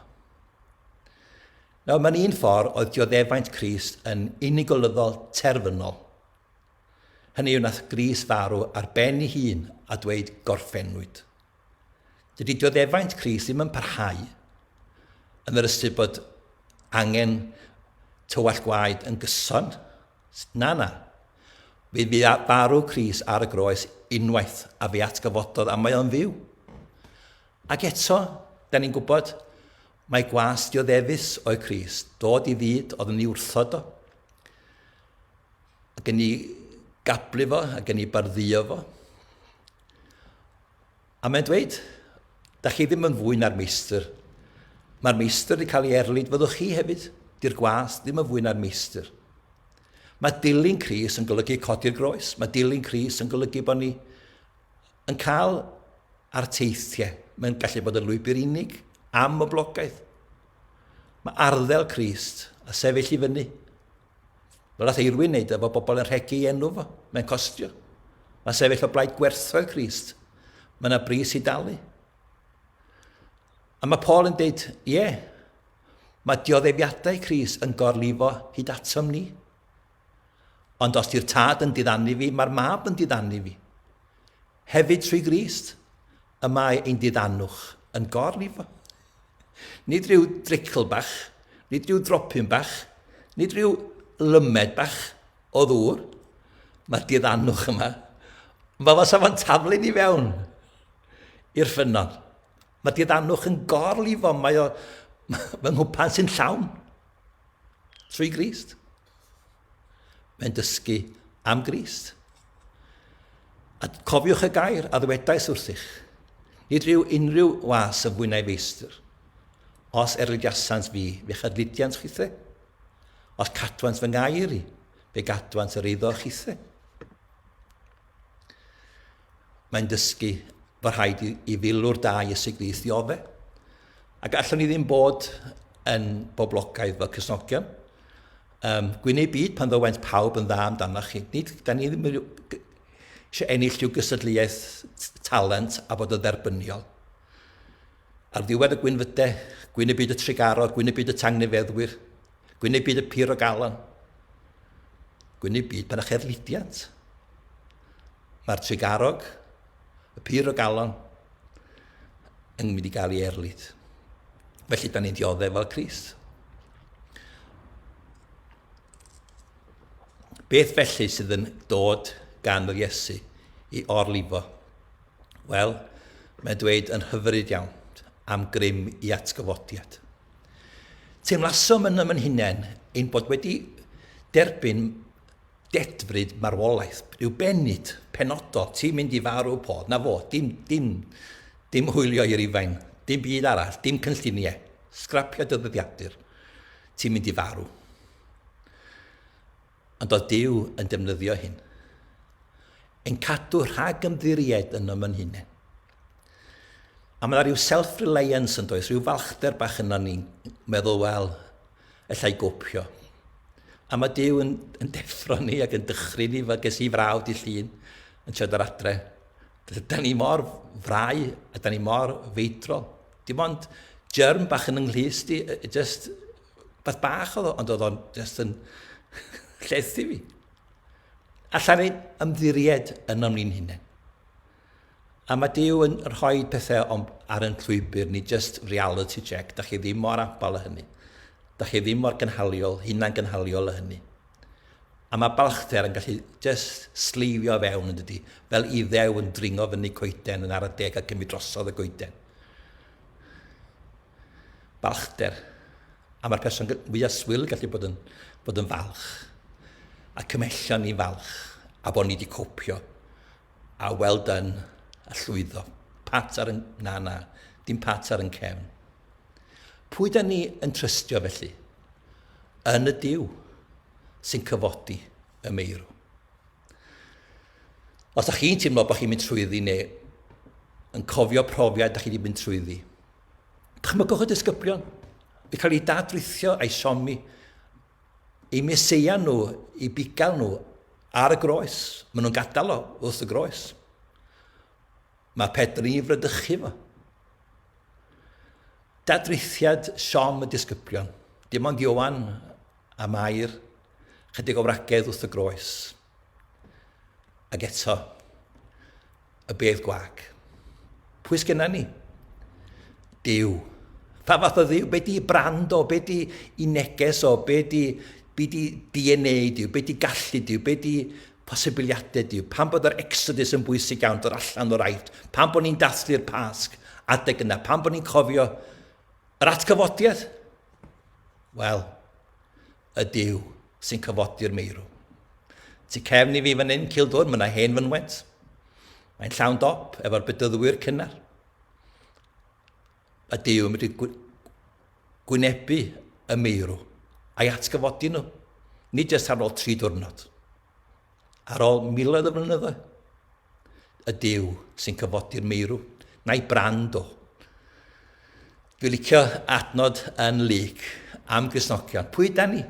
Nawr, mae'n un ffordd oedd dioddefaint Crist yn unigolyddol terfynol. Hynny yw nath Gris farw ar ben ei hun a dweud gorffennwyd. Dydy dioddefaint Cris ddim yn parhau yn yr ystyr bod angen tywallt gwaed yn gyson. Na, na. Fe fu farw Cris ar y groes unwaith a fe atgyfododd a mae o'n fyw. Ac eto, da ni'n gwybod, mae gwas dioddefus o'i Cris, dod i fyd oedd yn ei wrthod o, ac yn ei gablu fo, ac yn ei barddio fo. A mae'n dweud, da chi ddim yn fwy na'r meistr. Mae'r meistr wedi cael ei erlid, fyddwch chi hefyd. Di'r gwas ddim yn fwy na'r meistr. Mae dilyn Cris yn golygu codi'r groes. Mae dilyn Cris yn golygu bod ni yn cael ar teithiau. Mae'n gallu bod yn lwybr unig, am y blogaeth. Mae arddel Crist a sefyll i fyny Fel nath Eirwyn neud efo bobl yn rhegi ei enw fo. Mae'n costio. Mae sefyll o blaid gwerthfawr Crist. Mae yna bris i dalu. A mae Paul yn deud, ie, yeah, mae dioddefiadau Cris yn gorlifo hyd atom ni. Ond os di'r tad yn diddanu fi, mae'r mab yn diddanu fi. Hefyd trwy Grist. y mae ein diddanwch yn gorlifo. Nid rhyw dricl bach, nid rhyw dropyn bach, nid rhyw lymed bach o ddŵr. Mae diddanwch yma. Mae fo safon taflu'n i fewn i'r ffynnon. Mae diddanwch yn gorlifo, mae o fy nghwpan sy'n llawn. Trwy grist. Mae'n dysgu am Grist. A cofiwch y gair a ddwedais wrthych, nid rhyw unrhyw was yn fwy na'i feistr. Os erlydiasant fi, fe chydlydiant chithe. Os cadwant fy ngair i, fe gadwant yr eiddo chithe. Mae'n dysgu fod rhaid i, i filwr da Iesu Grist ddiofe. A gallwn ni ddim bod yn boblogaidd fel Cresnogion. Um, Gwyneb byd pan ddywent pawb yn dda amdanoch chi. Nid, da ni ddim eisiau ennill rhyw gysadleuaeth talent a bod yn dderbyniol. Ar ddiwedd y gwynfydau, gwyneb byd y trigaro, gwyneb byd y tangnefeddwyr, gwyneb byd y pur o galon, gwyneb byd pan eich erlidiant. Mae'r Tregarog, y pur o galon, yn mynd i gael ei erlid. Felly, da ni'n dioddef fel Crist. Beth felly sydd yn dod gan yr Iesu i orlifo? Wel, mae'n dweud yn hyfryd iawn am grym i atgyfodiad. Teimlasom yn ymyn hunain ein bod wedi derbyn Dedfryd marwolaeth yw bennid penodol, ti'n mynd i farw pob, 'na fo, dim, dim, dim hwylio i Rufain, dim byd arall, dim cynlluniau, sgrapio dy ddyddiadur, ti'n mynd i farw. Ond oedd Dyw yn defnyddio hyn, yn cadw rhag ymddiried yn ym yn hunain. A mae yna rhyw self-reliance yn does, rhyw falchder bach yna ni'n meddwl, wel, allai gopio. A mae Dyw yn, yn deffro ni ac yn dychry ni, fe ges i frawd di llun yn siarad ar adre. Da ni mor frai a da ni mor feidrol. Dim ond germ bach yn ynglhys di, just beth bach oedd o, ond oedd o'n just yn llethu fi. Alla ni ymddiried ynom ni'n hunain. A mae Duw yn rhoi pethau o'n, ar yn llwybr ni, just reality check, da chi ddim mor abal â hynny. Da chi ddim mor gynhaliol, hunan gynhaliol â hynny. A mae balchder yn gallu just sleifio fewn yn dydy, fel iddew yn dringo fyny coeden yn ar y deg a cymryd drosodd y goeden. Balchder. A mae'r person fwyaf swil gallu bod yn, bod yn falch. A cymhellion ni falch. A bod ni wedi copio. A well done, a llwyddo. Pat ar y... Na, na, dim pat ar yn cefn. Pwy da ni yn trystio felly? Yn y Duw sy'n cyfodi y meirw. Os da chi'n teimlo bod chi'n mynd trwyddi neu yn cofio profiad da chi wedi mynd trwyddi, dychmygwch y disgyblion i cael ei dadrithio a'i siomi Y Meseia nhw, y bugail nhw ar y groes. Maen nhw'n gadael o wrth y groes. Mae Pedr yn ei frydychu fo. Dadrithiad siom y disgyblion. Dim ond Iowan a Mair, chydig o wragedd wrth y groes. Ac eto, y bedd gwag. Pwy sgynna ni? Dyw. Pa fath o ddyw? Be di brand o? Be di i neges o? Be di, be di DNA diw? Be di gallu diw? Be di posibiliadau diw? Pan bod yr exodus yn bwysig iawn, dod allan o'r aifft, pan bod ni'n dathlu'r pasg, adeg yna, pan bod ni'n cofio yr atgyfodiad, wel, Y Duw sy'n cyfodi'r meirw. Tu cefn i fi fan hyn, Cildwr, mae yna hen fynwent. Mae'n llawn dop efo'r bedyddwyr cynnar. Y Duw yn mynd i gwynebu y meirw a'i atgyfodi nhw, nid jyst ar ôl tri diwrnod, ar ôl miloedd o flynyddoedd. Y Duw sy'n cyfodi'r meirw, na'i brand o. Dwi'n licio adnod yn Luc am Grisnogion. Pwy da ni?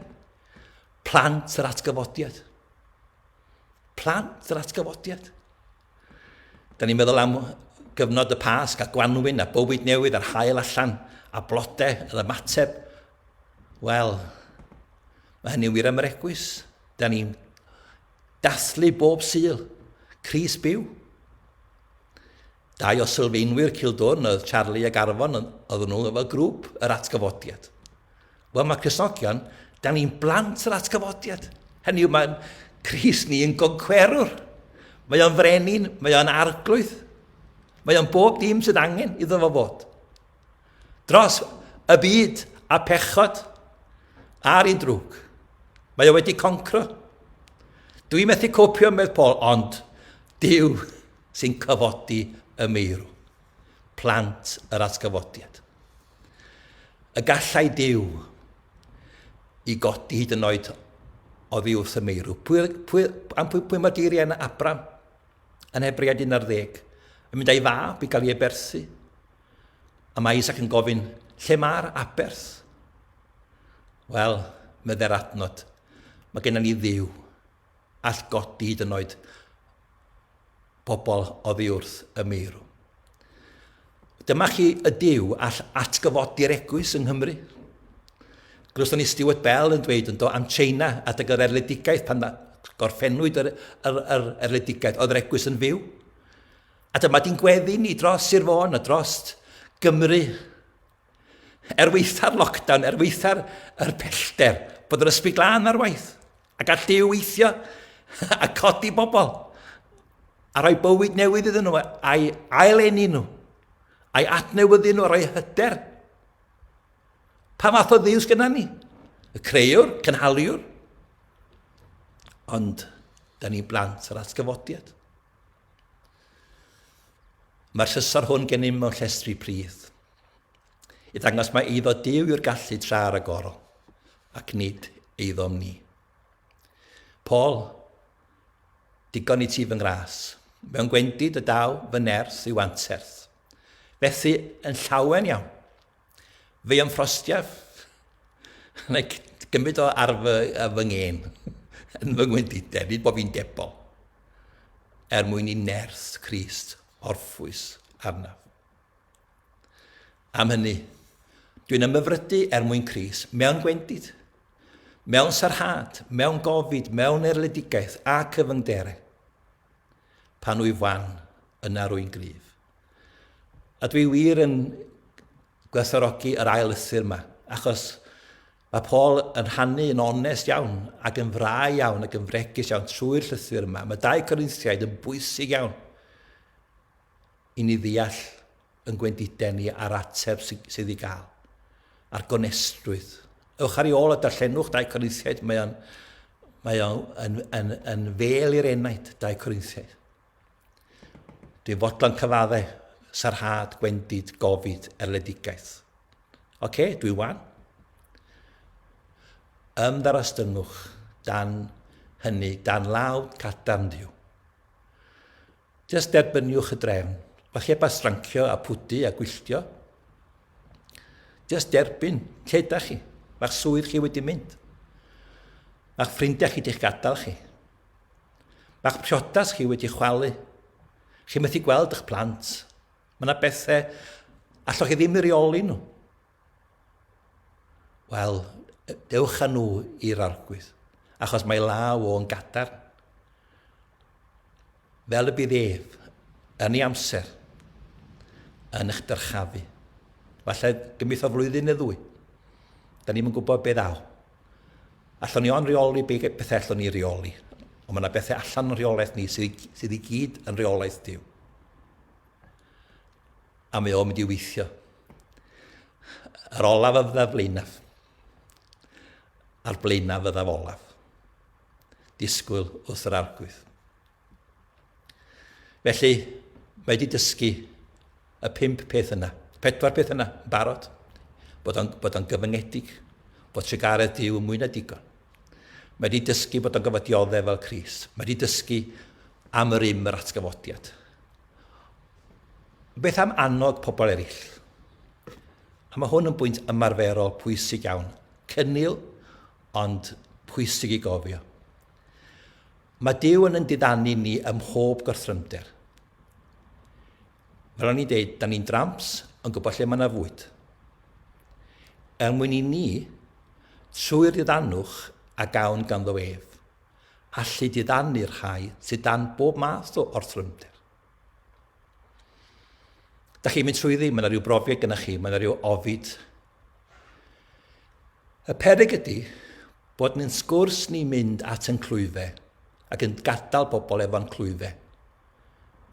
Plant yr atgyfodiad. Plant yr atgyfodiad. Da ni'n meddwl am gyfnod y Pasg a Gwanwyn a bywyd newydd a'r hael allan a blodau yr ymateb. Wel, mae hynny'n wir am yr egwys. Da ni'n dathlu bob syl, Cris byw. Dau o sylfaenwyr Cildwrn oedd Charlie ac Arfon, oedd nhw efo grŵp yr atgyfodiad. Wel, mae Cysnogion, da ni'n blant yr atgyfodiad. Hynny yw, mae'n Cris ni yn goncwerwr. Mae o'n frenin, mae o'n arglwydd. Mae o'n bob dim sydd angen iddo fo fod. Dros y byd a pechod ar un drwg. Mae o wedi concro. Dwi methu copio medd Paul, ond Dyw sy'n cyfodi y meirw. Plant yr atgyfodiad. Y gallai Duw i godi hyd yn oed oddi wrth y meirw. Pwy, pwy, am pwy, pwy mae geiriau yna Abram yn Hebread 11 yn mynd a'i fab i gael ei eberthu? A mae Isaac yn gofyn, lle mae'r aberth? Wel, meddai'r adnod, mae gennym ni ddiw all godi hyd yn oed pobl oddi wrth y meirw. Dyma chi y Dyw all atgyfodi'r egwys yng Nghymru. Glywson ni Stuart Bell yn dweud yn do am China adeg yr erledigaeth pan gorffennwyd yr, yr, yr erledigaeth, oedd yr egwys yn fyw. A dyma di'n gweddi ni dros Sir Fôn a dros Gymru. Er weitha'r lockdown, er weitha'r er pellter, bod yr ysbryd glân ar waith. A gall Duw weithio a codi bobl a rhoi bywyd newydd iddyn nhw, a'i aileni nhw, a'i adnewyddu nhw, a rhoi hyder. Pa fath o ddiws gyda ni? Y creuwr, cynhaliwr. Ond, da ni blant yr atgyfodiad. Mae'r llysor hwn gennym mewn llestri pridd. I ddangos mae eiddo Duw yw'r gallu tra ragorol, ac nid eiddom ni. Paul, digon i ti fy ngras, mewn gwendid y daw fy nerth i'w anterth. Fethu yn llawen iawn. Fy am ffrostiaf, neu gymryd o ar fy, ar fy ngên, yn fy ngwendidau, nid bod fi'n debol, er mwyn i nerth Christ orffwys arnaf. Am hynny, dwi'n ymhyfrydu er mwyn Cris, mewn gwendid, mewn sarhad, mewn gofid, mewn erledigaeth a cyfyngdere. Pan wyf wan, yna rwy'n gryf. A dwi wir yn gwerthorogi yr ail lythyr yma, achos mae Paul yn rhannu yn onest iawn ac yn frau iawn ac yn fregus iawn trwy'r llythyr yma. Mae dau Corinthiaid yn bwysig iawn. i ni ddeall yn gwendidau ni a'r ateb sydd i gael, a'r gonestrwydd. Ewch ar ei ôl a darllenwch Dau Corinthiaid, mae o'n mae o yn, yn, yn fel i'r enaid, Dau Corinthiaid. Dwi'n fodlon cyfaddau, sarhad, gwendid, gofid, erledigaeth. Oce, okay, dwi wan. Ymddarostyngwch dan hynny, dan law cadarn Dduw. Jyst derbyniwch y drefn. Falle â strancio a pwdu a gwylltio. Jyst derbyn lle ydych chi. Mae'ch swydd chi wedi mynd. Mae'ch ffrindiau chi di'ch gadael chi. Mae'ch priodas chi wedi chwalu. Chi methu gweld eich plant. Mae yna bethau allwch chi ddim i reoli nhw. Wel, dewch â nhw i'r arglwydd, achos mae law o'n gadarn. Fel y bydd ef, yn ei amser, yn eich dyrchafu. Falle gymryd o flwyddyn neu ddwy. Da ni'n gwybod beth ddaw. Allwn ni o'n rheoli be bethau allwn ni reoli. Ond mae yna bethau allan yn rheolaeth ni sydd, sydd i gyd yn rheolaeth diw. A mae o'n mynd i weithio. Yr olaf a fyddaf flaenaf. A'r blaenaf fyddaf olaf. Disgwyl wrth yr arglwydd. Felly, mae wedi dysgu y pimp peth yna, pedwar peth yna, yn barod, bod o'n, bod o'n gyfyngedig, bod trigaredd Dyw yn mwy na digon. Mae wedi dysgu bod o'n gyfod dioddef fel Cris. Mae wedi dysgu am yr im yr atgyfodiad. Beth am annog pobl eraill? A mae hwn yn bwynt ymarferol pwysig iawn. Cynnil, ond pwysig i gofio. Mae Dyw yn yn diddanu ni ym mhob gorthrymder. Fel o'n i'n deud, da ni'n dramps yn gwybod lle mae yna fwyd. Er mwyn i ni, trwy'r diddanwch a gawn ganddo ef, allu diddanu'r rhai sydd dan bob math o orthrymder. Da chi'n mynd trwyddi, mae yna rhyw brofiad gyda chi, mae yna rhyw ofid. Y perig ydy bod yn sgwrs ni'n mynd at yn clwyfe ac yn gadael pobl efo'n clwyfe.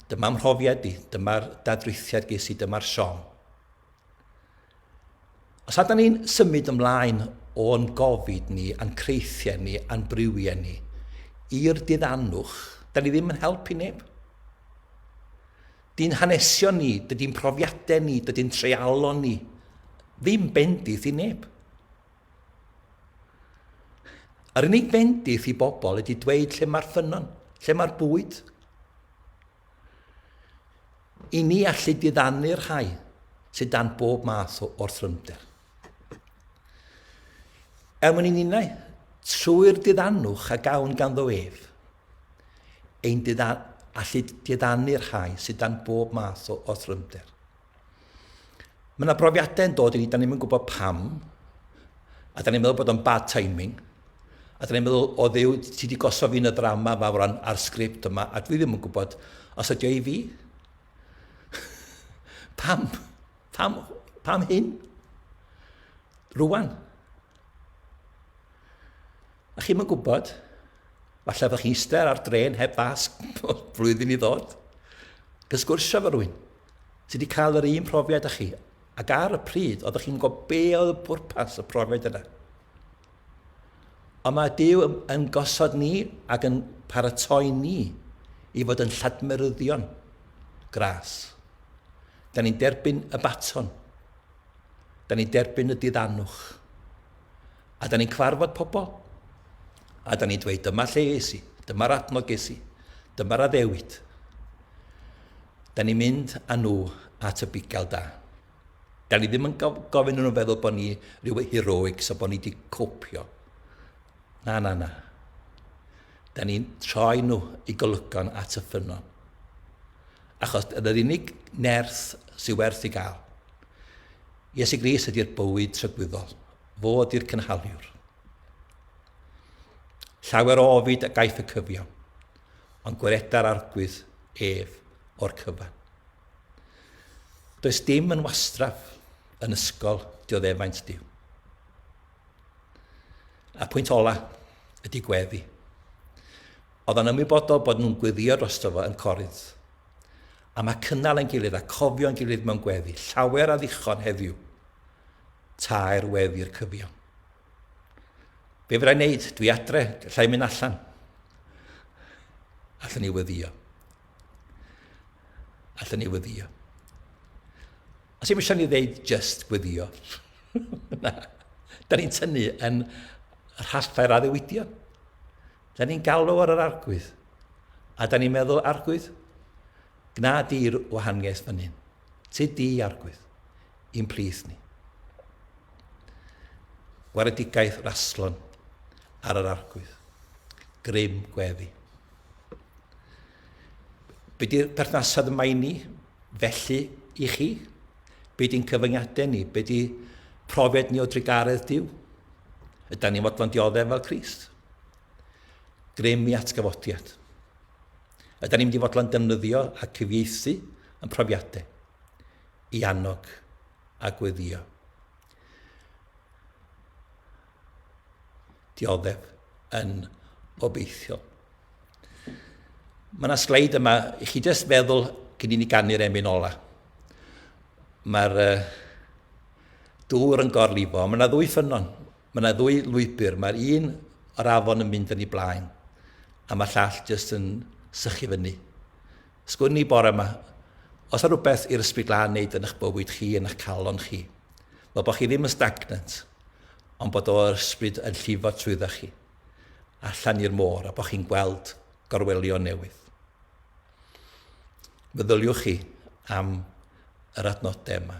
Dyma mhrofiad i, dyma'r dadrithiad ges i, dyma'r siom. Os ydyn ni'n symud ymlaen o'n gofid ni, a'n creithiau ni, a'n briwiau ni, i'r diddanwch, da ni ddim yn helpu neb. Dy'n hanesion ni, dydy'n profiadau ni, dydy'n treialon ni, ddim bendith i neb. Yr unig fendith i bobl ydy dweud lle mae'r ffynnon, lle mae'r bwyd. I ni allu diddanu'r rhai sydd dan bob math o orthrymder. Er mwyn i ninnau, trwy'r diddanwch a gawn ganddo ef, ein diddan, allu diddanu'r rhai sydd dan bob math o orthrymder. Mae yna brofiadau yn dod i ni, da ni'n gwybod pam, a da ni'n meddwl bod o'n bad timing, a da ni'n meddwl, o ddew, ti wedi gosod fi'n y ddrama yma fawr a'r sgript yma, a dwi ddim yn gwybod os ydio i fi. pam? Pam, pam hyn? Rwan. A chi'm yn gwybod, falle fydda chi eistedd ar dren heb fasg flwyddyn i ddod, yn sgwrsio efo rhywun sydd wedi cael yr un profiad â chi, ac ar y pryd, oeddech chi'n gwybod be oedd y pwrpas y profiad yna. Ond mae Dyw yn, yn gosod ni ac yn paratoi ni i fod yn lladmeryddion gras. Da ni'n derbyn y baton. Da ni'n derbyn y diddanwch. A da ni'n cyfarfod pobl. A da ni'n dweud, dyma lle es i, dyma'r adnodd ges i, dyma'r addewid. Da ni'n mynd â nhw at y bugail da. Da ni ddim yn gofyn nhw'n feddwl bod ni rhyw heroic, so bod ni wedi copio. Na, na, na. Da ni'n troi nhw i golygon at y ffynnon. achos dyna'r unig nerth sydd werth ei gael. Iesu Gris ydy'r bywyd trygwyddol, fo ydy'r cynhaliwr. Llawer o ofid a gaiff y cyfiawn, ond gwereda'r arglwydd ef o'r cyfan. Does dim yn wastraf yn ysgol dioddefaint Dyw. A pwynt ola ydy gweddi. Oedd o'n ymwybodol bod nhw'n gweddïo drosto fo yn Corinth. A mae cynnal ein gilydd a cofio'n gilydd mewn gweddi llawer a ddichon heddiw, taer wedd i'r cyfiawn. Be fydda i'n neud? Dwi adre, lla i mynd allan. Allwn ni weddio. Allwn ni weddio. Os i'n eisiau ni ddeud just gweddio. Na. Da ni'n tynnu yn rhallau'r addewidion. Da ni'n galw ar yr Arglwydd. A da ni'n meddwl, Arglwydd, gna di'r wahaniaeth fan hyn. Tyd di, Arglwydd, i'n plith ni. Gwaredigaeth raslon ar yr Arglwydd. Grym gweddi. Be di'r perthnasad yma i ni? Felly, i chi? Be di'n cyfyngiadau ni? Be di profiad ni o drugaredd Dyw? Ydy ni'n fodlon dioddef fel Christ? Grym i atgyfodiad. Yda ni'n mynd i fodlon defnyddio a cyfieithu yn profiadau i annog a gweddio? Dioddef yn obeithiol. Mae yna sleid yma, i chi jyst feddwl cyn i ni ganu'r emyn ola. Mae'r uh, dŵr yn gorlifo, mae yna ddwy ffynnon Mae 'na ddwy lwybr, mae'r un o'r afon yn mynd yn ei blaen, a mae'r llall jyst yn sychu fyny. Sgwn i bore yma, os yna rhywbeth i'r ysbryd lan wneud yn eich bywyd chi, yn eich calon chi, fel bod chi ddim yn stagnant, ond bod o'r ysbryd yn llifo trwydda chi, allan i'r môr, a bod chi'n gweld gorwelion newydd. Meddyliwch chi am yr adnodau yma.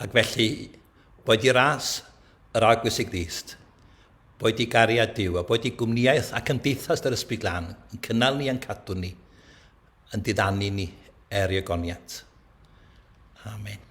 Ac felly, boed i ras yr Arglwys i Grist, boed i gariad Duw, a boed i gwmnïaeth a cymdeithas yr Ysbryd Glân yn cynnal ni a'n cadw ni, yn diddanu ni er i ogoniant. Amen.